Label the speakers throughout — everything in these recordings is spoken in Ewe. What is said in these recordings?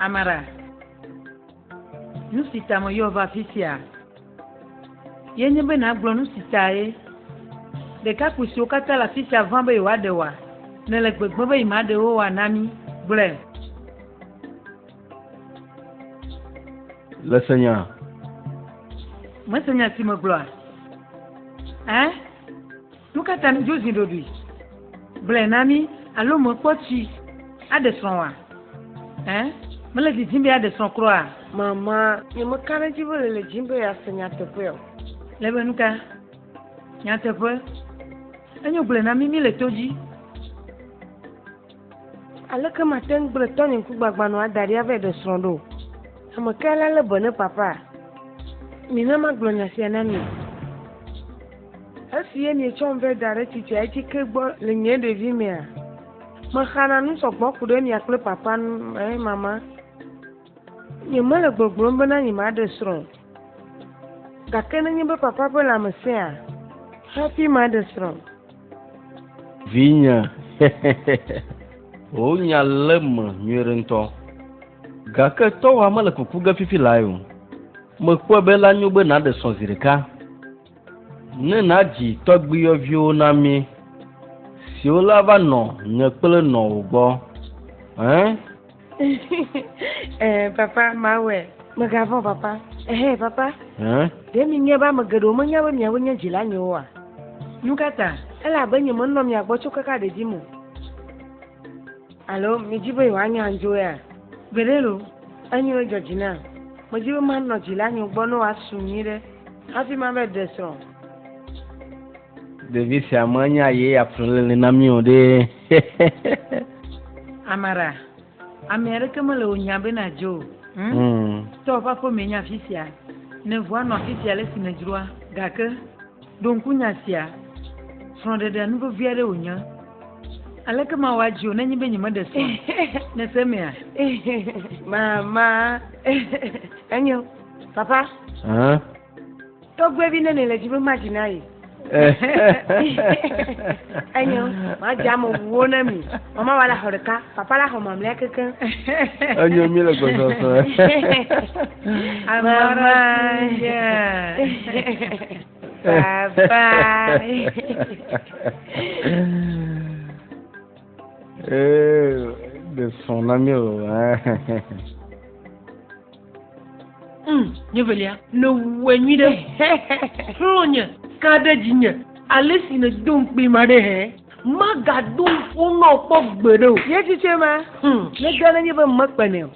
Speaker 1: Amara, nu si ta meyɔ va afi sia ye nye be nàgblɔ nu si tae ɖekakpui siwo katã le afi sia vã be yewoaɖe wòa nèle gbegblẽ be yemaɖe wo wòa na mí. Gblɔe.
Speaker 2: Le se nya. Me se nya
Speaker 1: si me gblɔa? Ɛ? Nu ka ta ne dzo zi ɖoɖoe? Gblɔe na mi alo me kpɔ tsi aɖe srɔ̃ wa? Ɛ? Me le didi be aɖe srɔ̃ kura? Mama, nye
Speaker 3: me ka ɖe dzi be le le dzi be ya se nya teƒe o. Le be nu ka?
Speaker 1: Nya teƒe. Enyo gblɔe na mi mi le to dzi.
Speaker 3: Aleke mate ŋu gblẽ tɔnye ŋkugbagbãnɔ ada ɖi ava yi ɖe srɔ̃ ɖo? Ame kae la lé be ne papa? Mina magblɔ nya sia na mi. Esi ye mietsɔm vɛ da ɖe tsitsia dzi ke gbɔ le nye ɖevimea, mexana nu sɔ gbɔ ku ɖe mia kple papa ŋu. Ɛ̃, mama. Nyemele gbɔgblɔm bena nyemaɖe srɔ̃ o. Gake nenye be papa ƒe lãme sẽa, hafi maɖe srɔ̃. Vinye,
Speaker 2: wò nya lé me nyuiɖe ŋutɔ. Gake tɔwòa mele kuku ge fifi lae o. Mekpɔe be la nyo be nàɖe srɔ̃ zi ɖeka, ne nàdzi tɔgbuiyɔviwo na mí, siwo la va nɔ nye kple nɔwò gbɔ. Ẽ?
Speaker 3: eh, papa mawɛ megavɔn papa ehe papa ɖe
Speaker 2: mi nye be ame
Speaker 3: geɖewo menya be miawo nye dzila nyewo oa nu ka ta
Speaker 1: ele abe nye menɔ
Speaker 3: mia gbɔ tso kaka ɖedzi mo alo midzi be yewoanya andzo ya gbeɖe lo
Speaker 1: enyi wo dzɔdzi
Speaker 3: na medzi be manɔ dzila nyewo gbɔ ne woasu nyui ɖe hafi mava de srɔ̃
Speaker 2: ɖevi sia menya ye yeaƒle lele na mí o ɖe
Speaker 1: amara ame aɖeke mele wò nya be nadzo o hmm? hmm. tɔ ƒe aƒe me nye afi sia ne ʋua nɔ afi sia le si me dzroa gake ɖo ŋku nya sia srɔ̃ɖeɖe nu vevi aɖe wònye aleke ma wɔ adzi o nenye be nyemeɖe srɔ̃ ne se mea mama
Speaker 3: enyo papa Tɔgbuivi ne nele dzi be madzi na ye. Enyo, madzi ame wuwo na mi. Mama wa la xɔ ɖeka, papa la xɔ mamlea keke. Enyo mi
Speaker 2: le gbɔsɔsɔ. Mama.
Speaker 3: Papa.
Speaker 2: Eh, de son ami o.
Speaker 1: Mm, nye velia. Nèwɔe nyui ɖe. Xlɔ nye ka ɖe dzinye. Ale si nèdo ŋukpee ma ɖe hɛ. Magado ŋku nɔ kpɔ gbeɖe o. Nye tsitsi ma.
Speaker 3: Hmm. Nega nenye be mekpenɛ o.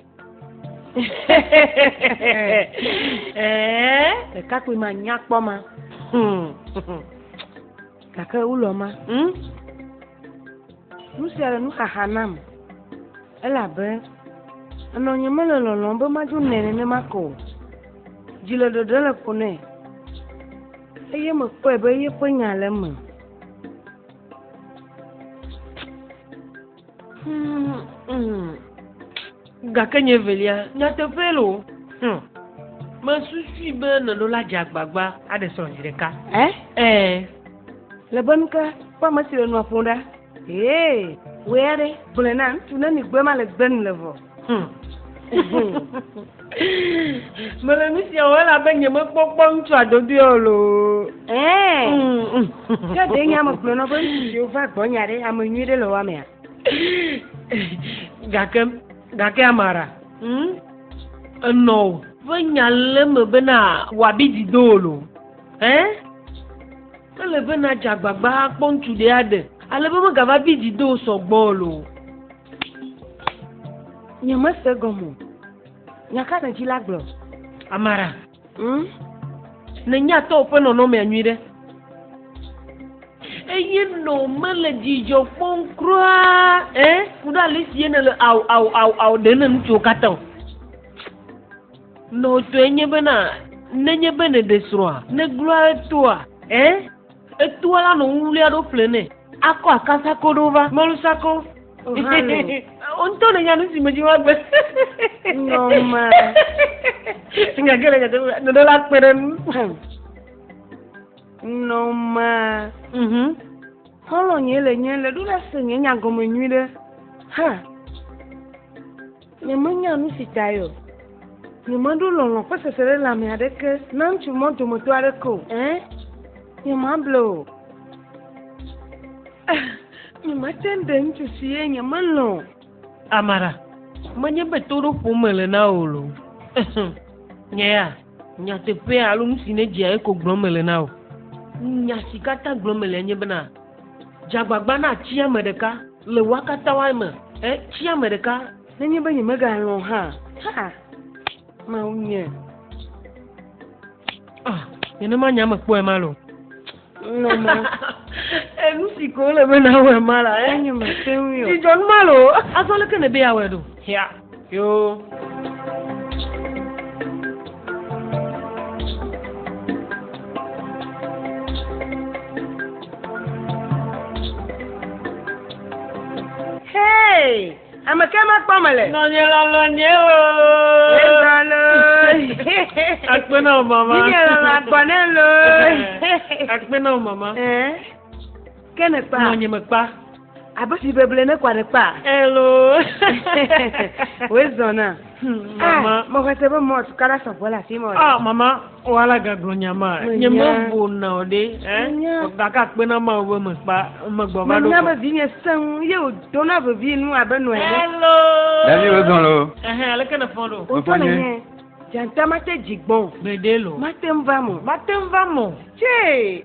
Speaker 3: Ɖekakpui ma nyakpɔ ma. Hmm. Gake wulɔ ma, hm? Nu sia le nuxaxa nam, elabe enɔnye mele lɔlɔ̃m be madzo nɛ nenema ko o. Dzi le ɖeɖe le ƒo nɛ, eye mekpɔe be yeƒe nya le eme.
Speaker 1: Hmm, hmm. Gake nye velia, nyateƒe lo. Hmm. Mesusui be nɔnɔ la dze agbagba aɖe srɔ̃ zi ɖeka. Ɛ? Ɛ.
Speaker 3: Le be nuka ƒe ame si le nua ƒom ɖa? Ee, wòe aɖe. Gblɔe na ŋutsu ne mi gbe ma le gbe nu le vɔ.
Speaker 1: Mele nu sia wɔm elabe nyemekpɔ kpɔ ŋutsua dodoe o loo. Ɛɛ.
Speaker 3: Ke ɖe nye ame gblɔna be ŋutsu siwo va gbɔnye aɖe ame nyui ɖe le wɔamea. Gake
Speaker 1: gake Amara. Hmm? Enɔ o. Ƒe nya le me bena wòabi dzi do o loo. Ɛ? Ele bena dze agbagba akpɔ ŋutsu ɖe aɖe ale be megava bi dzi do sɔgbɔ o loo.
Speaker 3: Nye me se gɔmɔ. Nya ka ne dzi la gblɔ? Amara.
Speaker 1: Hmm? Ne nya tɔ oƒe nɔnɔ mea nyui ɖe. Eye nɔ me le dzidzɔ kpɔm kura, eh? Kudo alisi ye ne le au au au au ɖe ne ŋutsuwo katã o. Nɔ tɔe nye bena, ne nye bene ɖe srɔa, ne glua toa, eh? Etoa la nɔ ŋu wlia ɖo ƒle nɛ. Akɔ akasako ɖo va. Mɔlusako. Ŋutɔ ne nya nu si me dzi woagbe. Nɔma. Nya ke le nya teƒe ne ɖe la kpe ɖe nu.
Speaker 3: Nɔma. Mhm. Xɔlɔ nye le nye le ɖo la se nye nya gɔme nyui ɖe. Ha. Nyemenya nu si tae o. Nyemeɖo lɔlɔ̃ ƒe seselelãme aɖeke na ŋutsu ma dometɔ aɖeke o. Ẽ, nyemable o. Ẽ, nyemate ŋu ɖe ŋutsu si ye nyemelɔ̃ o. Amara,
Speaker 4: menye be to ɖom ƒom mele na wò o. Ẽ, nye ya. Nyateƒe alo nu si nedzia ye ko gblɔm mele na wò. Nya si katã gblɔm mele nye bena, dze agbagba nàtsi ame ɖeka le woa katã woa me. Ẽ, tsi ame ɖeka. Nenye be nyemegalɔ̃
Speaker 3: hã, haa, Mawu nye.
Speaker 4: Ah, nenema nye ame kpɔe male o.
Speaker 3: Nɔma.
Speaker 4: Enu si ko le be na wɔ ma la. Enye me te ŋu yɔ.
Speaker 3: Dzidzɔ nu ma lo.
Speaker 4: Azɔ leke ne be ya wɔ ɖo? Ya. Yo.
Speaker 3: Hey! Ame ke ma kpɔ me le. Nɔnye lɔlɔ nye
Speaker 4: o. Lɔlɔ. Akpe na o mama. Nye lɔlɔ agbɔ ne
Speaker 3: lo.
Speaker 4: Akpe na o mama.
Speaker 3: Ke ne kpa. Nɔnye me kpa.
Speaker 4: Abe si
Speaker 3: beble ne kwa ne kpa. Elo. Wezɔna. Mama. Mɔxɔse be mɔt kala sɔgbɔ la fi mɔ. Ah mama. O ala
Speaker 4: gagblɔ nya ma. Nye mevo na o ɖe. Gake akpe na ma be mekpa megbɔ va ɖo. Menya be vinye sẽŋu
Speaker 3: ye o dona vevi nu abe nɔe. Hello. Davi
Speaker 4: wo zɔn lo.
Speaker 2: Ɛhɛn aleke ne fɔn ɖo.
Speaker 4: O tɔ le nye.
Speaker 3: Janta mate dzigbɔn. Gbede lo. Mate
Speaker 4: ŋva mo. Mate
Speaker 3: ŋva mo.
Speaker 4: Tse.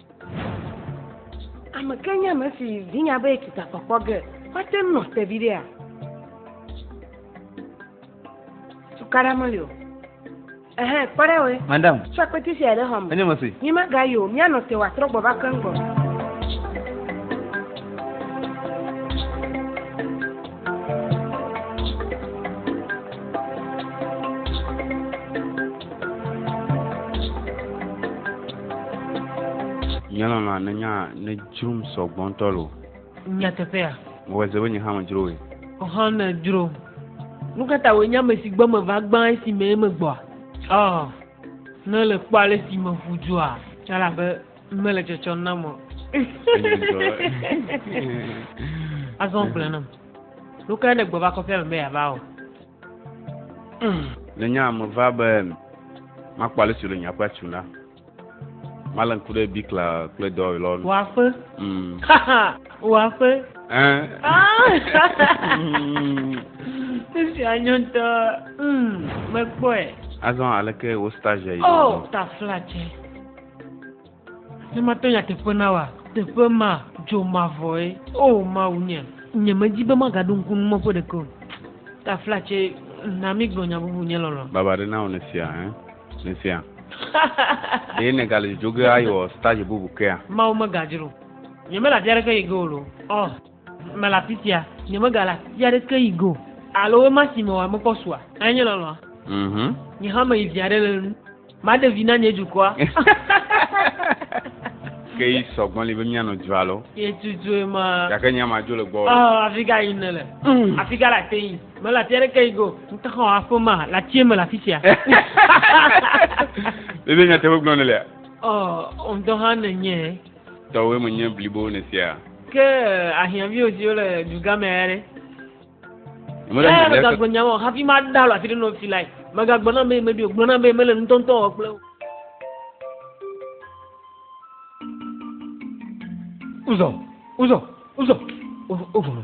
Speaker 3: Ame ke nye ame si vinya be kita kpɔkpɔ ge wate ŋu nɔ te viɖea? Tukaɖa meli o. Ehe, kpɔ ɖa we. Madam. Tsɔ akpeti sia
Speaker 2: ɖe xɔ
Speaker 3: me. Enye mesi. Mi magayi
Speaker 2: o, mianɔ
Speaker 3: te wòatrɔ gbɔ va keŋ gbɔ.
Speaker 5: Nye lɔlɔ̃a ne nya ne dzrom sɔ gbɔ ŋutɔ lo. Nyateƒea.
Speaker 4: Mewɔe se be nye
Speaker 5: hã medzro woe. Ɔhɔn medzro.
Speaker 4: Nu ka ta wòe nye ame si gbɔ meva gbã esi mee megbɔa? Ɔ, ne èle kpɔ ale si meƒu dua, elabe. Mele dzɔdzɔ nam o. Azɔ gblẽ nam. Nu kae nègbe va kɔƒea me be yeava o?
Speaker 5: Le nya me va be makpɔ ale si wòle nye aƒea tu na. Male ŋku ɖe bikla kple dɔwɔwɔ lɔ nu. Wɔaƒe.
Speaker 4: Mm. Wɔaƒe. Eh. Ah. Esi anyo ŋutɔ. Mm. Mekpɔe. Azɔ
Speaker 5: aleke wo stage yi? Oh, tafla tse.
Speaker 4: Ne mate nya teƒe na wa, teƒe ma dzo mavɔe. O oh, Mawu nye, nye medzi be magaɖo ŋku nu mɔƒe ɖeke o. Ta flatse, na mi gblɔ nya bubu nye lɔlɔ. Baba ɖe na wò ne sia,
Speaker 5: hein? Ne sia. Ɖe ne gale dzodzo ge ayi wɔ stage bubu kea? Mawu megadzro.
Speaker 4: Nye mele afi aɖeke yi ge o lo. Oh. Mele afi sia, nyemegale ati aɖeke yi go, alo wema si me wòamekpɔ sua. Eye nye lɔlɔ̃a. Mhm. Nye hã meyi vi aɖe le nu. Maɖe vi na nye dukɔa.
Speaker 5: Ke yi sɔgbɔn li be míanɔ dua lo. Yetutue ma.
Speaker 4: Gake nya ma dzo le gbɔ.
Speaker 5: Ɔ, afi ka yi nele?
Speaker 4: Mm. Afi ka le ate yi? Mele ati aɖeke yi go. Ŋutexɔ aƒe ma le atie me le afi sia.
Speaker 5: Ɖe nyateƒe gblɔ ne lea? Ɔ, ŋutɔ
Speaker 4: hã nenye. Tɔwòe menye
Speaker 5: blibo nèsia? Ke
Speaker 4: ahiãviwo siwo le dugãme ya ɖe? Eya megagblɔ nya wɔ hafi mada alɔ afi ɖe nɔ fi lae. Megagblɔ na be meɖi o, gblɔ na be mele ŋutɔŋutɔ wɔ kple wo. Uzɔ, uzɔ, uzɔ, ovɔlɔ.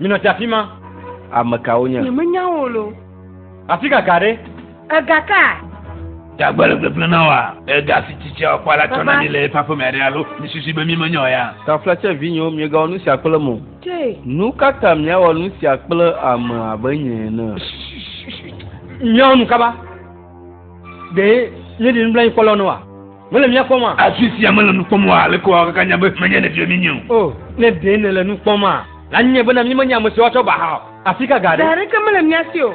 Speaker 6: Minɔ ti afi ma. Ame kawo nye?
Speaker 2: Nyemenya wo lo.
Speaker 3: Afi ka
Speaker 6: ga ɖe? Ega ka?
Speaker 3: Dagbele
Speaker 7: gbegblẽ na wa. Ega si tsitsi a ƒe la tsɔna ni le eƒe aƒeme aɖe alo mi susu be mi menyɔ ya. Taflatse vinyewo,
Speaker 2: miegawo nusia kple mo. Nu ka
Speaker 3: ta miawɔ
Speaker 2: nu sia kple ame abe nye ene?
Speaker 6: Míawɔ nu kaba. Ɖe míeɖi nublanuikpɔlawo ne wa? Mele mía kpɔm a? Afi sia mele nu kpɔm
Speaker 7: wa, aleke wòawɔ kaka anya be menye nèbiɔ mí nɛ o? O, ne ɖe
Speaker 6: nèle nu kpɔm a, la nye bena míemenye ame siwo atsɔ ba hã o. Afi ka ga ɖe? Ɖe aɖeke mele mía si o.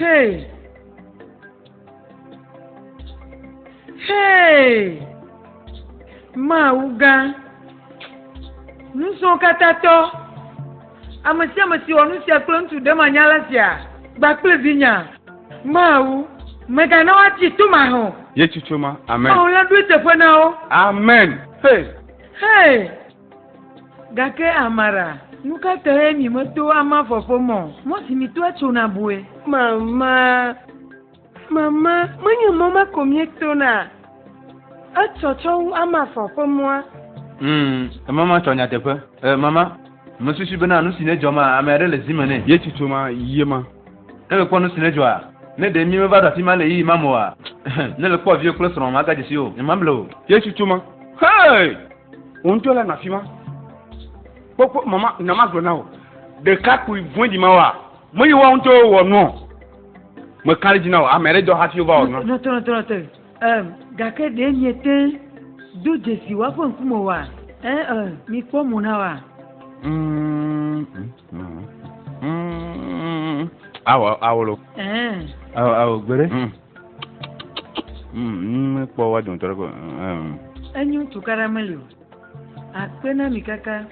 Speaker 1: Hey! Hey! Mawu gã, nusrɔ̃ katã tɔ, ame sia ame si wɔ nu sia kple ŋutsu ɖemanyala sia gba kple vinya. Mawu, mègana woatsi to mahã o. Yesu tsoma.
Speaker 5: Amen. Mawu la ɖoe teƒe na
Speaker 1: wo. Amen. Hey!
Speaker 5: Hey!
Speaker 1: Gake Amara, nu ka tae mi meto ama fɔfɔ mɔ? Mɔ si mi toa tsona bue. Mama,
Speaker 3: mama, menye mɔ ma ko mi tona. Etsɔ tsɔ wu ama fɔfɔ mɔa. Hmm,
Speaker 2: mama tsɔ nyateƒe. Eh, mama. Mesusui bena nusi nedzɔ ma, ame aɖe le zi me nɛ. Yesu tso ma yie
Speaker 5: ma. Ne mekpɔ nusi
Speaker 2: nedzɔa, ne ɖe mí meva ɖo afima le ɣeyiɣi ma me oa, ne le kpɔ viwò kple srɔ̃wò magadze si o, nyemable o. Yesu tso ma.
Speaker 5: Hey! Wò ŋutɔ la nɔ afima. Kpɔkpɔ, mama, na magblɔ na wò. Ɖekakpui vɔ̃ɖi ma wa, me yi woawo ŋutɔwo wɔ nua o. Meka ɖe edzi na wò, ame aɖe dɔ hafi wova wɔ nua.
Speaker 1: Ẽ, gake ɖe miete ŋu do dzesi woa ƒe ŋkume oa? Ẽ, ẽ, mikpɔ mo na woa.
Speaker 5: Awɔ, awolo. Ẽ.
Speaker 2: Awɔ, awɔ, gbere.
Speaker 5: Mikpɔ woa dometɔ ɖe ko. Enyo
Speaker 1: tukaɖa meli o. Akpe na mi kaka.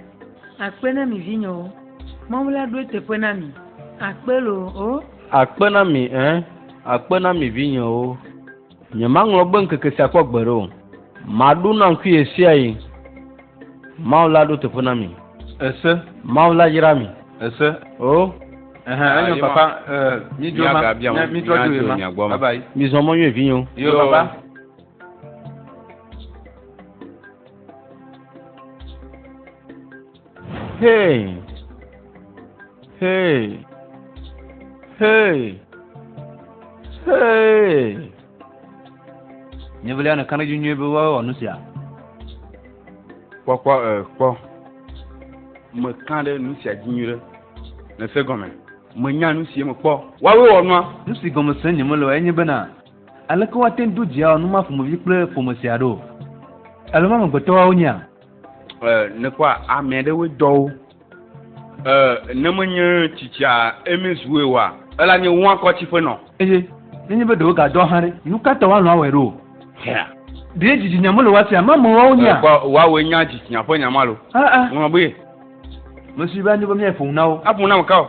Speaker 1: Akpe na mi vinyewo. Mawu la ɖo eteƒe na mi. Akpe loo o. Akpe na mi ẽ.
Speaker 2: Akpe na mi vinyewo. Nyemaŋlɔ gbe ŋkeke sia kpɔ gbeɖe o. Maɖu naŋkui ɣesiaɣi. Mawu la ɖo teƒe na mi. Ese. Mawu la yra mi. Ese. O. Ɛhɛn, enyo ah, papa. Eh, mi dzo ma. Mi dzo dzo ma. Bye bye. Mi zɔn mo nyo vinyo. Yo papa. Hey! Hey! Hey! Hey! Nyevelia ne kanedzi nyuie be woawɔ nu sia. Kpɔkpɔ
Speaker 5: e kpɔ. Mekã ɖe nu sia dzi nyuie ɖe. Nèse gɔme. Menya nu si mekpɔ. Woawoe wɔ nua. Nu si gɔme sem nyemele
Speaker 7: oa enye bena. Aleke woate ŋu do dzia numa ƒomevi kple ƒome sia ɖo? Alɔme amegbetɔwoa wonyea? Ɛ,
Speaker 5: nekpɔa amea ɖewoe dɔwo. Ɛ, ne menye tsitsia eme zue oa, ela nye woa kɔtsi ƒe nɔ. Eye nenye be
Speaker 7: ɖewo ga dɔa hã ɖe, nu ka ta woalɔ̃ awɔe ɖo? Hɛa. Ɖe dzitsinya mele woa sia ame amewoa wonyea? Ɛ, kpɔ, woawoe nya dzitsinya
Speaker 5: ƒe nya ma lo. Aa. Ŋlɔ be. Mesi
Speaker 7: be anyo be míaƒo nu na wo. Aƒo nu na ame kawo?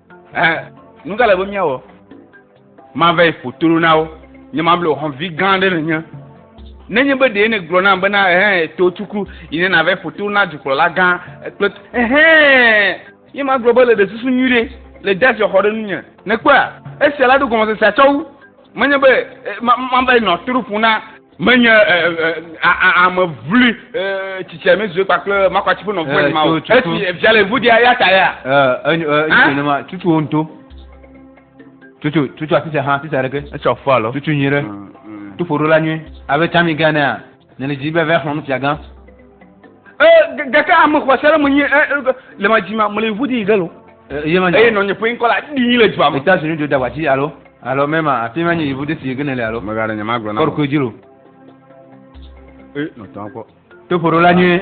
Speaker 5: Eh, nu ka le be míawɔ? Mava yi ƒo toro na wo. Nye ma ble hɔnvi gã aɖe nenye. Nenye be ɖee negblɔ nam bena ehɛn to tuku yi ne nava yi ƒo toro na dukplɔla gã kple ehɛn. Ye ma gblɔ be le ɖe susu nyui ɖe le de asi xɔ ɖe nu nye. Nekpɔa esia la ɖo gɔmesesea tsɔ wu. Menye be eh, ma, ma va yi nɔ toro ƒo na Menye ame vli tsitsia mi zue kpakple makwatsi ƒe nɔvɔe ni ma o. Esi via le ŋu dia ya ta ya. Enye ne ma tutu wo ŋuto.
Speaker 7: Tutu tutu atitsa hã atitsa ɖeke. Etsɔ fɔ alo. Tutu nyui ɖe.
Speaker 5: Mm,
Speaker 7: mm. Tuƒo ɖo la nyui. Abe tami gã ne ya. Ne le dzi be vɛ xlɔ nufia gã.
Speaker 5: Gake ame xɔse aɖe menye le ma dzi ma mele ŋu di yi ɖe lo. Eye nɔnye ƒe ŋkɔ la ɖi le dua me. Eta sinu do dagbatsi alo
Speaker 7: alo mɛma afi ma nye yevu de si gene le alo. Mega ɖe nyama gblɔ na. Kɔrɔ
Speaker 5: koe lo.
Speaker 7: Ee
Speaker 5: nɔtɔ kɔ. Toƒoɖo la nye.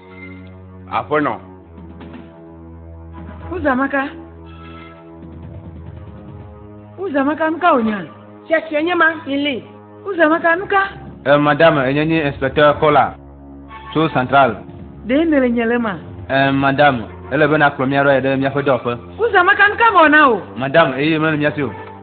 Speaker 5: Aƒenɔ. Uzamaka.
Speaker 1: Uzamaka, nu ka wònya? Tsetse nye ma,
Speaker 3: Milly. Uzamaka, nu ka?
Speaker 1: Eh, madame, enye
Speaker 7: nye inspecteur Kola tso central. Ɖee nèle nye
Speaker 1: le ma? Eh, madame,
Speaker 7: ele be nàkplɔ mía ɖo ayi ɖe míaƒe dɔwɔƒe. Uzamaka, nu ka mewɔ
Speaker 1: na wò? Madame, eye mele mía si
Speaker 7: o.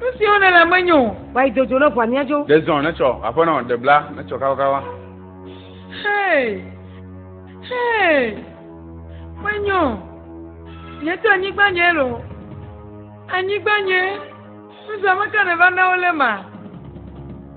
Speaker 1: Nu siwo nèle menyo o. Wa yi dodzo ne ʋua
Speaker 3: míadzo. Ɖe zɔn netsɔ aƒenɔ.
Speaker 5: Ɖe bla netsɔ kawakawa.
Speaker 1: Hey, hey, menyo. Nye to anyigba nye lo. Anyigba nye. Nuzame ka nèva na wo le ma.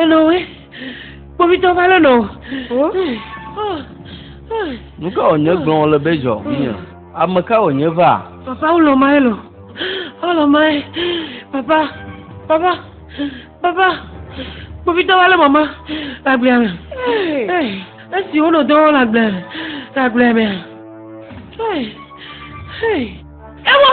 Speaker 4: Enɔ we, kpovitɔ va lé nɔ.
Speaker 2: Nu ka wònye gblɔ wòle be dzɔ vinye? Ame ka wònye va? Papa wòlɔ mae lɔ,
Speaker 4: wòlɔ mae. Papa, papa, papa, kpovitɔ va lé mama le agblea me. Esi wonɔ dɔ wɔm le agblea me, le agblea mea. Ewɔ.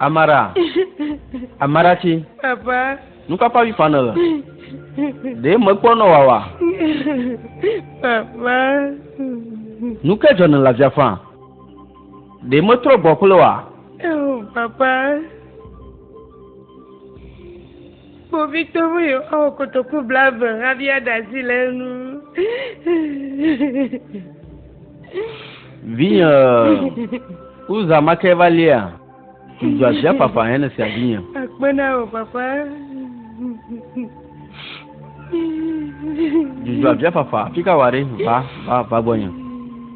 Speaker 2: Amara, Amaratsi, Papa.
Speaker 3: nukpakpa vi fa
Speaker 2: nèle. Ɖe mekpɔ nɔ wawa. Papa.
Speaker 3: Nu
Speaker 2: ke dzɔ nèle avia fa. Ɖe metrɔ gbɔ kple wa. Oh, papa.
Speaker 3: Kpovitɔ be yewoawɔ kotoku blaeve abia ɖe asi le enu.
Speaker 2: Vinye Uza ma ke va lia? Dzudzɔ asia fafa hɛn esia vinye. Akpe na wò papa. Dzudzɔ asia fafa afi ka wɔ ɖe? Va, va, va gbɔnye.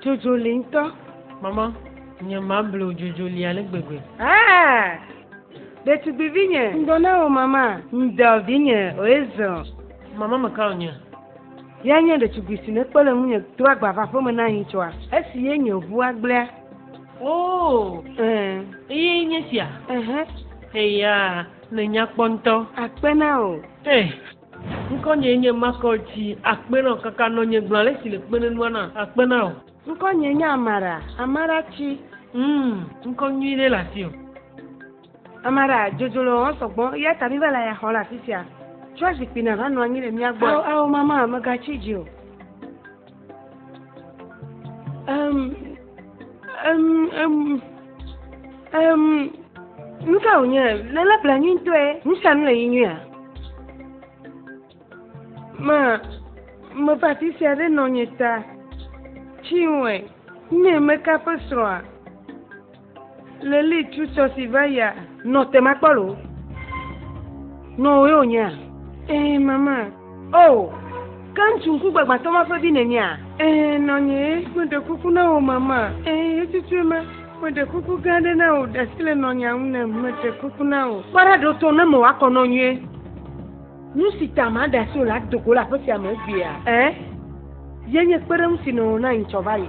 Speaker 3: Dzodzoli ŋutɔ. Mama,
Speaker 4: nye mable wò dzodzoli ale gbegbe. Ah!
Speaker 3: Ɖetugbivi nye. Ŋdɔ na wò mama. Ŋdɔ vinye, oezɔ. Mama meka
Speaker 4: wò nye. Ye nye
Speaker 3: ɖetugbui si nekpe le ŋunye do agba va aƒeme na yi tsɔa. Esi ye nye ʋua gblẽa. Oh!
Speaker 4: Eh. Eye nye sia. Ehẽ. Eya, nènya kpɔ ŋutɔ. Akpe na wò.
Speaker 3: Eh.
Speaker 4: Ŋkɔnyee nye Makɔl tsi akpe na wò kaka nɔ nye gblɔ ale si le kpe nenua na akpe na wò. Ŋkɔnyee nye Amara,
Speaker 3: Amara tsi. Humm
Speaker 4: ŋkɔ nyui ɖe le asiwò.
Speaker 3: Amara, dzodzo le wɔwɔm sɔgbɔ eya ta mi va le aya xɔm le afisia. Tsɔ zikpui na va nɔ anyi le mía gbɔ. Ao ao mama, mègatsi dzi o. Um, um, um, um, nu ka wònye le le ƒle nyui ŋutɔe nu sia nu le yi nyuia ma meƒe afi sia ɖe nɔ nye ta tsi wɔe nye meka ƒe srɔ̃a Leli tu sɔ si va ya. Nɔ te ma kpɔlo. Nɔ wo yo nya. Eh mama. Oh. Ke ŋutsu ŋku gbagbãtɔ ma ƒe vi nènyea? Eh nɔ nye meɖe kuku na wò mama. Eh etutue ma. Meɖe kuku gã aɖe na wò ɖasi le nɔ nya ŋu ne meɖe kuku na wò. Kpɔɖa ɖo to ne mewɔ akɔ nɔ nyuie. Nu si ta ma ɖasi wò la do go le aƒe sia me egbea. Eh. Ye nye kpeɖeŋu si nɔ wò na yi tsɔ va yi.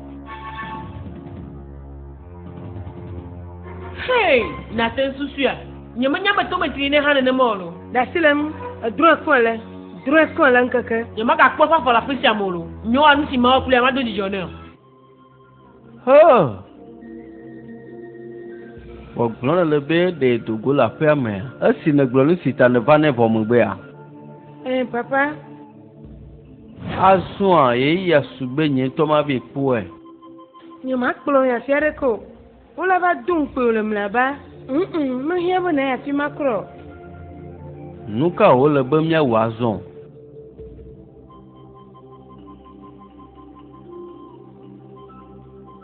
Speaker 3: Hey, nate nsusuya. Nyemenya me tome tri ne hã nenema o lo. Ɖasi le ŋu, edrɔe kɔe le, drɔe kɔe le ŋkeke. Nyemagakpɔ eƒe afɔ le
Speaker 4: aƒe sia me o lo. Nyoa nu si mawɔ kple ya mado dzidzɔ nɛ o. Hoo.
Speaker 2: Gbɔgblɔ nèle be ɖe do go le aƒea mea? Esi nègblɔ nu si ta nèva nɛ vɔ megbea? Ɛɛ, Papa. Azɔa ɣeyiɣia su be nye ŋutɔ mavɛ kpɔe.
Speaker 3: Nyemakplɔ wò yi afi aɖeke o. Wole va do ŋukpɔe wòle mlɔeba. Ŋ-ŋ, mehiã be nàyi afi ma kura o.
Speaker 2: Nu kae wòle be míawɔ azɔ?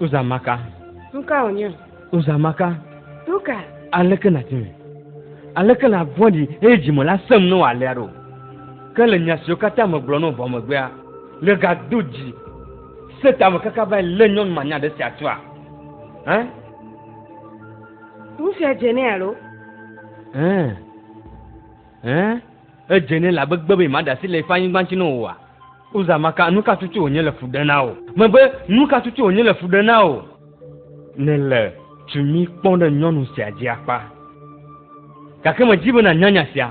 Speaker 6: Uzamaka. Tuka wònye.
Speaker 3: Uzamaka.
Speaker 6: Tuka.
Speaker 3: Aleke nàti
Speaker 6: me? Aleke la vɔ̃ɖi eye dzime la sẽm ne wòalea ɖo? Ke le nya siwo katã megblɔ nɔ vɔ megbea, megado dzi se tame kaka va lé nyɔnu manya ɖe sia tua? Hã?
Speaker 3: Ŋutsua dze nɛ alo? Hã? Hã?
Speaker 6: Edze nɛ le agbe gbe be maɖe asi le eƒe anyigba ŋuti na wò oa? Uza maka, nu ka tutu wònye le fu ɖem na wò? Megbe, nu ka tutu wònye le fu ɖem na wò? Nèle tumi kpɔm ɖe nyɔnu sia dzi akpa. Gake medi be nànya nya sia,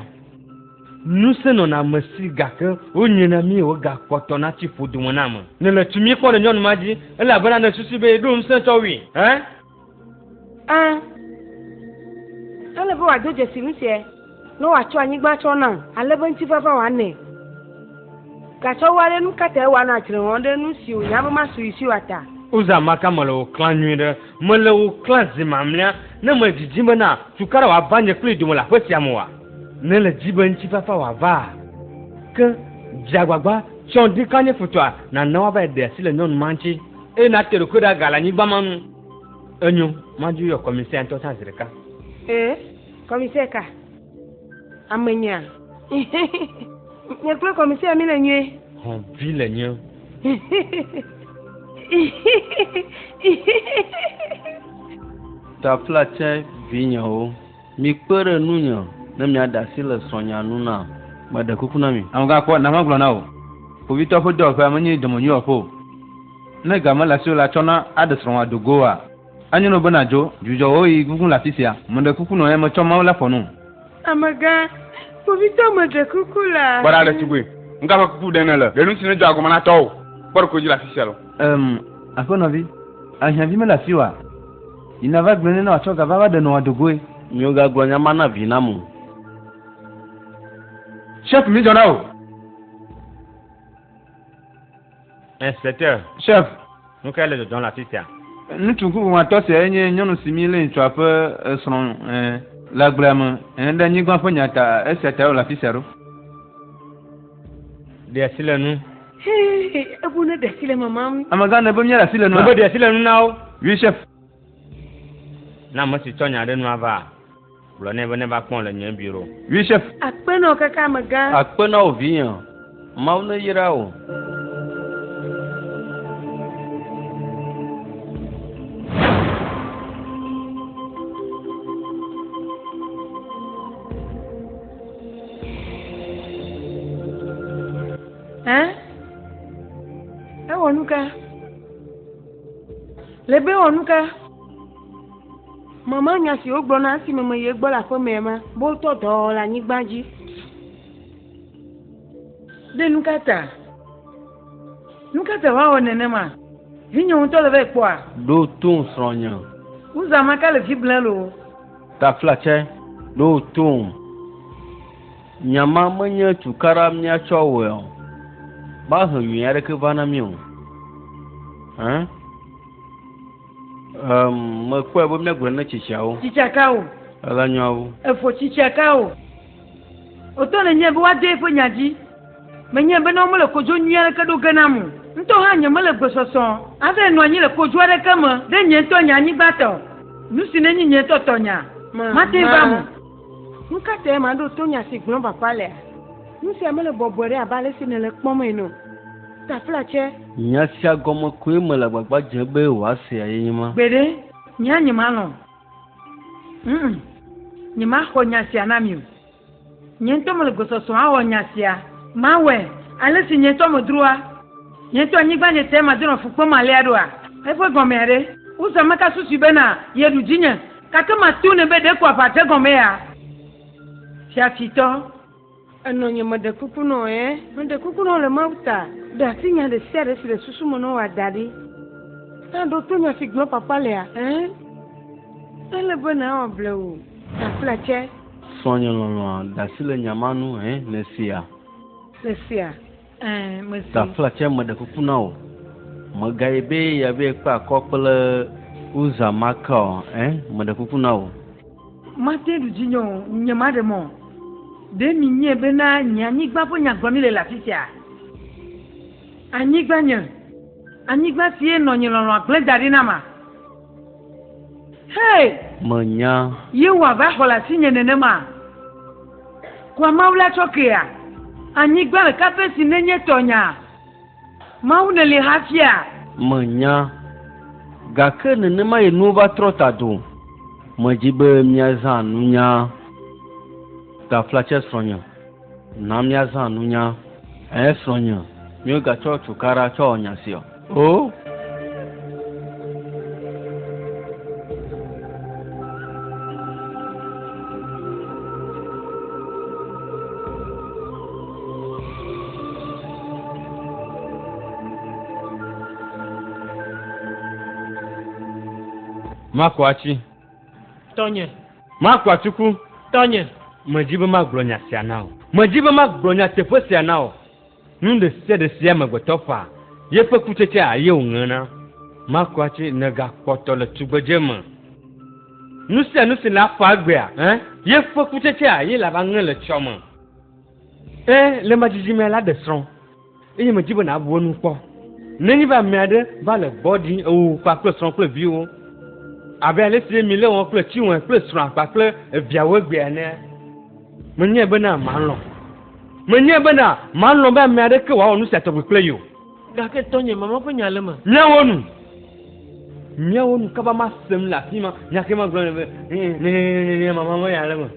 Speaker 6: Ŋusẽ nɔna ame si gake wonyrɛ na mí wògakpɔtɔ natsi ƒo dome na ame. Nèle tumi kpɔm ɖe nyɔnu ma dzi, elabena nèsusui be yeɖo ŋusẽ tsɔ wui. Ẽ?
Speaker 3: Ẽ, ele be wòado dzesi nu sia, ne wòatsɔ anyigba tsɔ nam, ale be ŋutifafã wòanɛ. Gake woa ɖe nu ka tae wòanɔ adzre wɔm ɖe nu si wònya be masu yi si o la ta? Uza maka mele wò
Speaker 6: klã nyui ɖe, mele wò klã zi mamlea, ne medzidzim bena tu kaɖe wòava nye kplii dome le aƒe sia me oa? Ne èle di be ŋutifafã wòavaa, ke dze agbagba, tsɔ ɖi ka nye futɔa, nàna woavae ɖe asi le nyɔnu ma ŋuti. Eye nate ɖokui ɖe aga le anyigba ma nu. Enyo, madi yɔ kɔmisɛ ŋutɔ tsã zi ɖeka. Ee,
Speaker 3: kɔmisɛ ka? Amenyaa. Nye kple kɔmisɛ mi le nyuie. Hɔn vi le nyuie.
Speaker 2: Tafla tsɛ vinyewo. Mikpe ɖe ŋunye ne miaɖe asi le srɔ̃nya ŋu nam. Meɖe kuku na mi. Ŋu gakpɔ na magblɔ na wò.
Speaker 7: Kpovitɔ ƒe dɔwɔƒea menye dɔmenyui wɔƒe o. Ne ga mele asiwò la, tsɔna aɖe srɔ̃wòa do go oa? Enyo na wò be nàdzo. Dzudzɔ wò ɣeyiɣi gugu le afisia. Meɖe kuku nɔ eya metsɔ Mawu la ƒo nu. Amegã,
Speaker 3: kpovitɔ meɖe kuku la. Kpɔ ɖa ɖetugbui,
Speaker 5: nu ka ƒe kuku ɖem nèle? Ɖe nusi nedzɔ agɔme na tɔwò kpɔɖekoe dzi le afisia loo? Em, aƒenɔvi,
Speaker 7: ahiãvi mele asiwòa? Yi nava gblɔe nɛ ne wòatsɔ ga va va ɖe nɔ wòado goe. Migagblɔ nya ma
Speaker 2: na vinam o.
Speaker 7: Chef, mi dzɔ na wò.
Speaker 6: Inspecteur, Chef,
Speaker 7: nu kae le dzɔdzɔm
Speaker 6: le afi sia? Ŋutsu ŋkuʋuʋatɔ
Speaker 7: siae nye nyɔnu si mílé ŋutsua ƒe srɔ̃, ẽ, le agblea me, ẽ, ɖe anyigba ƒe nya ta, esia tae wòle afi sia ɖo.
Speaker 6: Ɖe asi le nu. Hee, ebu
Speaker 3: ne ɖe asi le mamam. Amegã ne be míaɖe asi le
Speaker 7: nua? Ne be ɖe asi le nu na wo.
Speaker 6: Oui, chef. Na ame si tsɔ nya ɖe nua va, gblɔ nɛ be neva kpɔm le nye biro. Oui, chef. Akpe
Speaker 7: na wò kaka
Speaker 3: amegã. Akpe na wò vinye.
Speaker 2: Mawu neyra wò.
Speaker 3: Ɛ? Ewɔ nuka? Le be wɔ nuka? Mama nya si wogblɔ na esi meme ye gbɔ le aƒemea ma, be wotɔ dɔ le anyigba dzi.
Speaker 1: Ɖe nuka ta? Nuka ta woawɔ nenema? Vinye ŋutɔ le vɛ kpɔa? Ɖo to
Speaker 2: srɔ̃nye. Wozã maka
Speaker 1: le vi blɛ loo. Taflatse,
Speaker 2: ɖo tom. Nya ma menye tukaɖa míatsɔ awɔe o. Mahe nyui aɖeke va na mí o. Hã? Um, mekpɔe be míagblɔ ne tsitsiawo. Tsitsia ka o.
Speaker 1: Ele nyɔawo.
Speaker 2: Efo tsitsia ka
Speaker 1: o. Wotɔ le nye be woade eƒe nya dzi. Menyae bena womele kodzo nyui aɖeke ɖo ge nam o. Ŋutɔ hã nyemele gbesɔsɔ ave nɔ anyi le kodzo aɖeke me ɖe nye ŋutɔ nye anyigba tɔ, nu si nenye nye ŋutɔ tɔnya, mate ŋu va me. Nu ka
Speaker 3: tae maɖo to nya si gblɔm vava lea? Nu sia mele bɔbɔe ɖe abe ale si nèle ekpɔm ene o. Taflatse. Nya sia gɔme
Speaker 2: koe mele agbagba dzem be wòasea ye nye ma. Gbeɖe, nye hã
Speaker 1: nyemalɔ̃ o. Ŋ, nyemaxɔ nya sia na mi o. Nye ŋutɔ mele gbɔsɔsɔ awɔ nya sia. Mawɔe ale si nye ŋutɔ medroa nye ŋutɔ anyigba nye tae madenɔ fu kpem alea ɖoa? Eƒe gɔmea ɖe? Uza meka susui bena yeɖu dzinye. Gake mato nɛ be ɖe ko aʋa dze gɔmea? Fiafitɔ,
Speaker 3: ènɔ nye me ɖe kuku nɔ ɛ? Meɖe kuku nɔ le Mawu ta, ɖe asi nya ɖe sia ɖe si le susu me nɔ wòa da ɖi. Ta ɖo to nya si gblɔ kpakpa lea, ẽ, ele be nàwɔ blewu ta kple tse. Sɔ nye lɔlɔ̃a,
Speaker 2: de asi le nya ma ŋu, ẽ, nèsea? Nèsea?
Speaker 1: Gaflatsɛ meɖe
Speaker 2: kuku na wò. Mègayi be yeave kpe akɔ kple Uza Maka o, ẽ, meɖe kuku na wò. Mate ɖu
Speaker 1: dzinye o, nyemaɖe mɔ o. Ɖe minyɛ bena nye anyigba ƒe nyagblɔ mi le le afisia? Anyigbanye, anyigba sie nɔ nye lɔlɔ̃a gblẽ daɖi na ma. Hey! Menya.
Speaker 2: Yehowa va xɔ
Speaker 1: le asinye nenema. Kua Mawu la tsɔ kea? Anyigba le kape si nenye tɔnya? Mawu neli hafia? Menya.
Speaker 2: Gake nenema ye nuwo va trɔ ta do. Medzi be míazã nunya. Gafla tsɛ srɔ̃nye. Na míazã nunya. Ɛɛ, srɔ̃nye, míegatsɔ cukaɖa tsɔ wɔ nya sia o.
Speaker 6: Maku atsi. Tɔnye.
Speaker 4: Maku atiku.
Speaker 6: Tɔnye.
Speaker 4: Medi be magblɔ
Speaker 6: nya sia na wò. Medi be magblɔ nyateƒe sia na wò. Nu ɖe sia ɖe si amegbetɔ ƒã, yeƒe kutsetsea ye wòŋena. Maku ati ne gakpɔtɔ le tugbedze me. Nu sia nu si naƒã egbea, ẽ, yeƒe kutsetsea ye lava ŋe le tsɔ me. Ẽ, le ema dzidzimea, laɖe srɔ̃. Eye medzi be nàbu enu kpɔ. Nenye be ame aɖe va le gbɔ ɖi ewò kpakple srɔ̃ kple viwo, abe ale si emi le wɔ kple Chinwe kple srɔ̃a kpakple eviawo egbea enea, menyae bena malɔ̃. Menyae bena malɔ̃ be ame aɖeke wòawɔ nu sia tɔgbi kple ye o. Gake tɔnye,
Speaker 4: mama ƒe nya le eme. Míawo nu.
Speaker 6: Míawo nu kaba masem le afima, nya ke magblɔ nɛ be, Nenye mama ƒe nya le eme.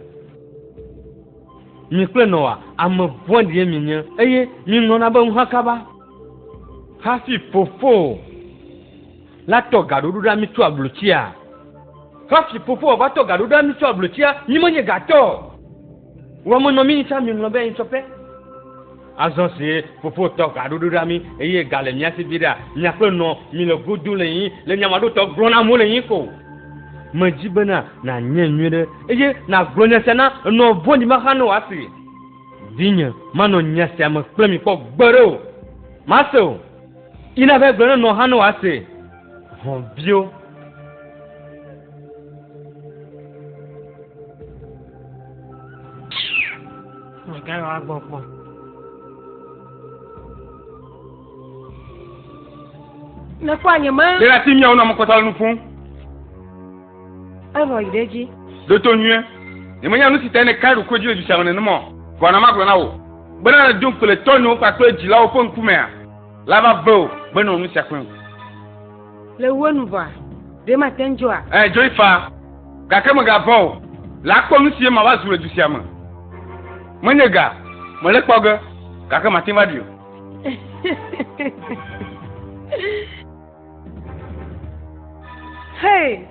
Speaker 6: Mi kple Noa, ame vɔ̃ɖie mienye, eye miŋlɔna be ŋuha kaba. Hafi fofowò la tɔ gaɖoɖo ɖa mi tso ablotsia. Hafi fofowò va tɔ gaɖoɖo ɖa mi tso ablotsia, mi menye gatɔ o. Wò amenɔmi yi tsã miŋlɔ be eyi tsɔƒe. Azɔ si Fofo tɔ ga ɖoɖo ɖa mí eye ga le mía si viɖea, míakpe nɔ mí le go dom le yí le nyamaɖotɔ gblɔ na amewo le yí ko. Medzi bena nànyae nyuiɖe eye nàgblɔ nya sia na enɔ vɔ̃ɖi ma xa ne wòasee. Vinye, manɔ nya sia me kple mi kpɔ gbeɖe o. Mase o. Yi nàvae gblɔ na enɔ xa ne wòasee. Hɔ̃ viwo.
Speaker 3: Mègayɔ agbɔgbɔ. Ne kpɔ anye ma. Ɖe asi miawo na mekɔta
Speaker 5: le nu ƒom. Enɔ yi
Speaker 3: ɖe edzi. Ɖoto nyuie.
Speaker 5: Nyemenya nu si ta nèka ɖokui dzi le du sia me nenema o. Vɔ na magblɔ na wò bena le Doŋkpele tɔnyewo kpakple dzilawo ƒe ŋkumea, la va ve o be nɔ nu sia kpem. Le
Speaker 3: ŋuwò nu vɔa, ɖe mate ŋu dzoa? Ẽ, dzoe faa,
Speaker 5: gake mègavɔ̃ o. Le akpɔ nu sie mava zu le du sia me. Menye ga mele kpɔ ge, gake mate ŋu aɖui o.
Speaker 3: Hei!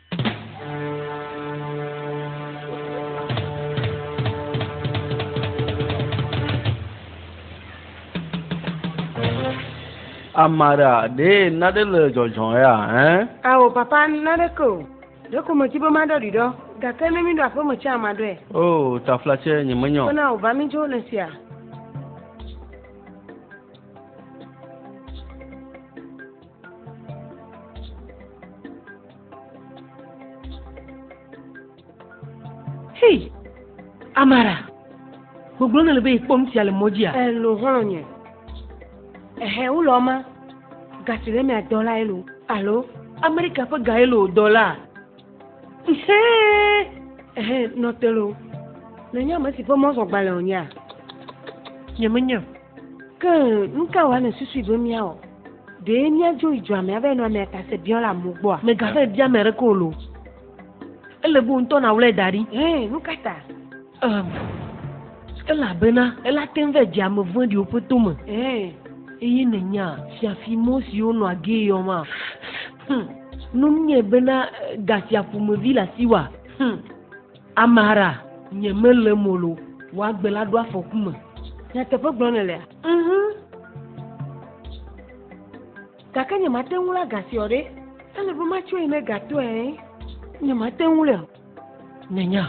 Speaker 2: Amara, ɖee naɖe le dzɔdzɔ ya ɛ? Ao, papa,
Speaker 3: naɖeke o. Ɖeko medi be maɖɔ ɖi ɖɔ, gake ne míɖo aƒeme tsɛa, maɖɔe. Oo, taflatsɛ,
Speaker 2: nyemenyɔ. Ke na wò va mídzo le
Speaker 3: fia.
Speaker 4: Hei, Amara, gbogbo nele be ikpɔ nu sia le mɔ dzia? Elo xɔlɔnye.
Speaker 3: Ehe wo lɔ ma. Gasi le mia dɔ la elo. Alo Amerika ƒe ga
Speaker 4: elo dɔ la. Ehe.
Speaker 3: Ehe nɔtelo. Ne nya me si ƒe mɔzɔ gbalẽ o nya. Nye
Speaker 4: me nya.
Speaker 3: Ke nuka wa ne susu be mia o. Ɖe míadzo yi dua mea be nɔ amea ta se biɔ le amewo gbɔa? Mègavɛ bia ame aɖeke o
Speaker 4: loo. Ele be wò ŋutɔ nàwlɔe da ɖi. Ẽ, nu ka ta?
Speaker 3: Um,
Speaker 4: elabena ele ate ŋu va dze ame vɔ̃ɖiwo ƒe to me. Ẽ, eye nènya fiafi mɔ si wonɔ agee yɔma? Hm, nu nɛ bena, Gafia ƒomevi le asiwòa? Hm. Amara, nye melé molo woagbe la ɖo afɔku me. Nyateƒe gblɔ
Speaker 3: nèlea? Mhm. Gake nye mate ŋu la gasiɔ ɖe. Ele be matsɔe ne gatɔe. Nye mate ŋu le. Nènya,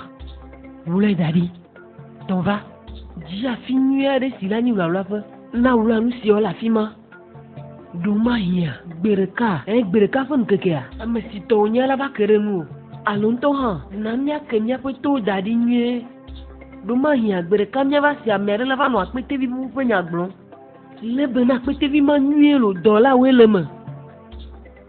Speaker 4: wlɔe da ɖi. Tɔva. Dzi afi nyui aɖe si la nyi wlawlaƒe. Na wlɔa nu siɔ le afi ma. Ɖo mahiã, gbe ɖeka, ẽ, gbe ɖeka ƒe ŋkekea, ame si tɔ wònye la va ke ɖe ŋuwò, alo ŋutɔ hã, na míake míaƒe towo da ɖi nyuie. Ɖo mahiã, gbe ɖeka míava se ame aɖe la va nɔ akpetevi bubu ƒe nya gblɔm. Le be na akpetevi ma nyuie loo, dɔlawoe le eme.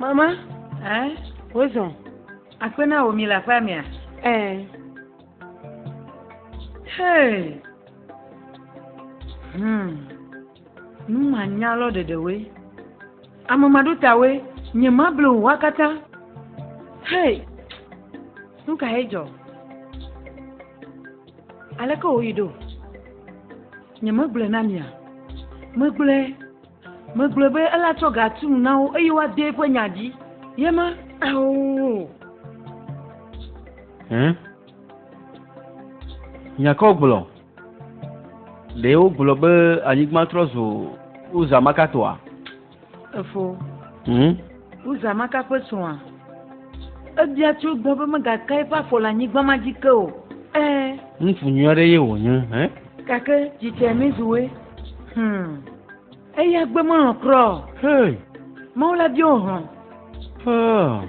Speaker 3: Mama, eh?
Speaker 1: wozɔ. Akpe na wò mi le aƒea mea? Eh. Hey. Hmm. Numanya lɔ ɖeɖewoe. Amemaɖotawoe nye ma ble o wa katã. Hei! Nu ka ye dzɔ? Aleke wòyi ɖo? Nye megblɔe na mia. Megblɔe. Megblɔe be ela tsɔ ga tu nu na wo eye woade eƒe nya dzi. Ye ma. Ao! Hẽ?
Speaker 2: Nya ka wogblɔ? Ɖe wogblɔ be anyigba trɔ zu Uza maka tɔa? Efo.
Speaker 1: Hmm? Uza maka ƒe srɔ̃a. Ebia tso gbɔ be megaka eƒe afɔ le anyigba ma dzi ke o. Ee. Ŋutsu
Speaker 2: nyui aɖe ye wònye. Hẽ? Gake dzitsɛ
Speaker 1: mi zuwe. Hmm. Eya gbe melɔ̃ kura o. Hei.
Speaker 2: Mawu la bia
Speaker 1: wò hlɔ̃. Hei.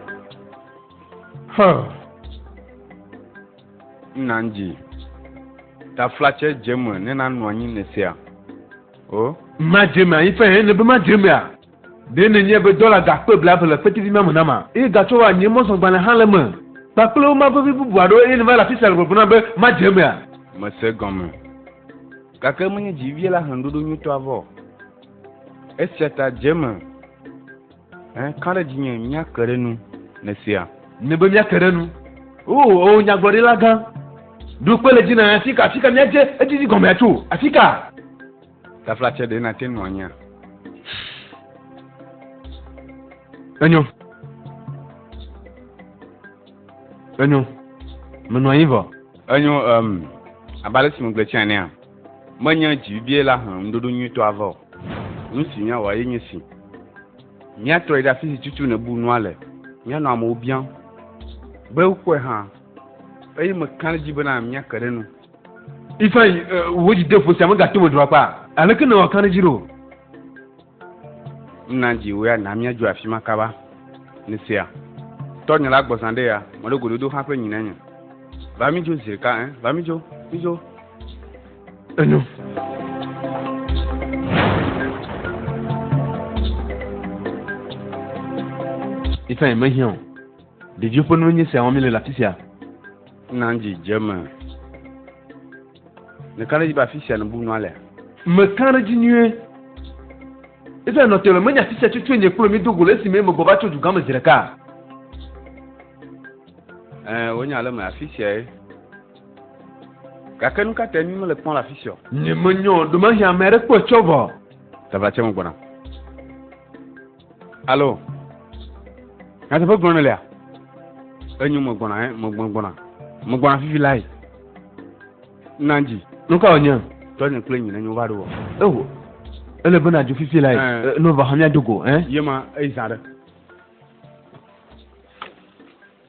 Speaker 5: Hã. Nna ŋdzi. Taflatsɛ dze me ne nanu anyi ne sea. O. Ma dze me
Speaker 7: anyi fɛn hɛn ne be ma dze mea. Ɖe ne nye be dɔla ga kpe bla eve le kpetivi ma me na ma, eye ga tsɔ wa nye mɔzɔgbalẽ hã le eme, kpakple wo ma vevi bubu aɖewo eye ne va le afisia le gbɔgblɔ nam be ma dze mea. Me se gɔme.
Speaker 5: Gake menye dzi vie la he nuɖoɖo nyuitɔ avɔ o. Esia ta dze me. Ka ɖe dzinye míake ɖe nu le sea? Ne be míake ɖe
Speaker 7: nu. O, o nyagblɔɖila gã, ɖo kpe le dzi na afi ka, afi ka míadze edidi gɔmea tso, afi ka? Taflatse
Speaker 5: ɖe nate ŋu anyia?
Speaker 7: Enyo. Enyo. Menɔ anyi vɔ. Enyo, um,
Speaker 5: abe ale si megblɔe tsã enea. Menye dzi bibie la he ŋuɖoɖo nyuitɔ ava o. Nu si míawɔa ye nye si, Míatrɔe ɖe afi si tutu nèbu nua le. Míanɔ amewo biam be wokpɔe hã, eye meka ɖe edzi bena míake ɖe enu. Ifeanyi,
Speaker 7: wò dzideƒo sia megate ŋu meɖo akpa. Aleke nèwɔ ka ɖe edzi ɖo?
Speaker 5: Nna dzi wò ya na míadzo afi ma kaba. Nèsea? Tɔnye la gbɔzã ɖe ya, meɖo gododo xaƒe nyi nenye. Va mídzo zi ɖeka, ẽ? Va mídzo, mídzo. Enyo.
Speaker 7: Ifeanyi mehiã o. Ɖeviwo ƒe nuwo nye esia wɔm míele le afi sia. Nna dzi
Speaker 5: dze eme. Mekã ɖe edzi be afi sia nèbu nua lea? Mekã ɖe edzi
Speaker 7: nyuie. Eƒe anɔte me, menye afi sia tso tsoe nye kplɔe míedo go le esime megbɔ va tso dugã me zi ɖeka.
Speaker 5: Ẽ, wònye ale me, afi siae. Gake nu ka tae mí mele kpɔm le afi sia o? Nyemenyɔ o,
Speaker 7: ɖemahi ame aɖe kpɔe tsɔ vɔ. Tava tsɛ megbɔna.
Speaker 5: alo nyateƒe gblɔ ne lea enyo megbɔna eh, megbɔna megbɔna fifi la yi nanji nuka wònye
Speaker 7: tɔnye kple nyina nyo
Speaker 5: va ɖo wɔ eho ele bena
Speaker 7: dzo fifi la yi
Speaker 5: eh. nova
Speaker 7: hã miado go
Speaker 5: eh?
Speaker 7: yema eyi zã ɖe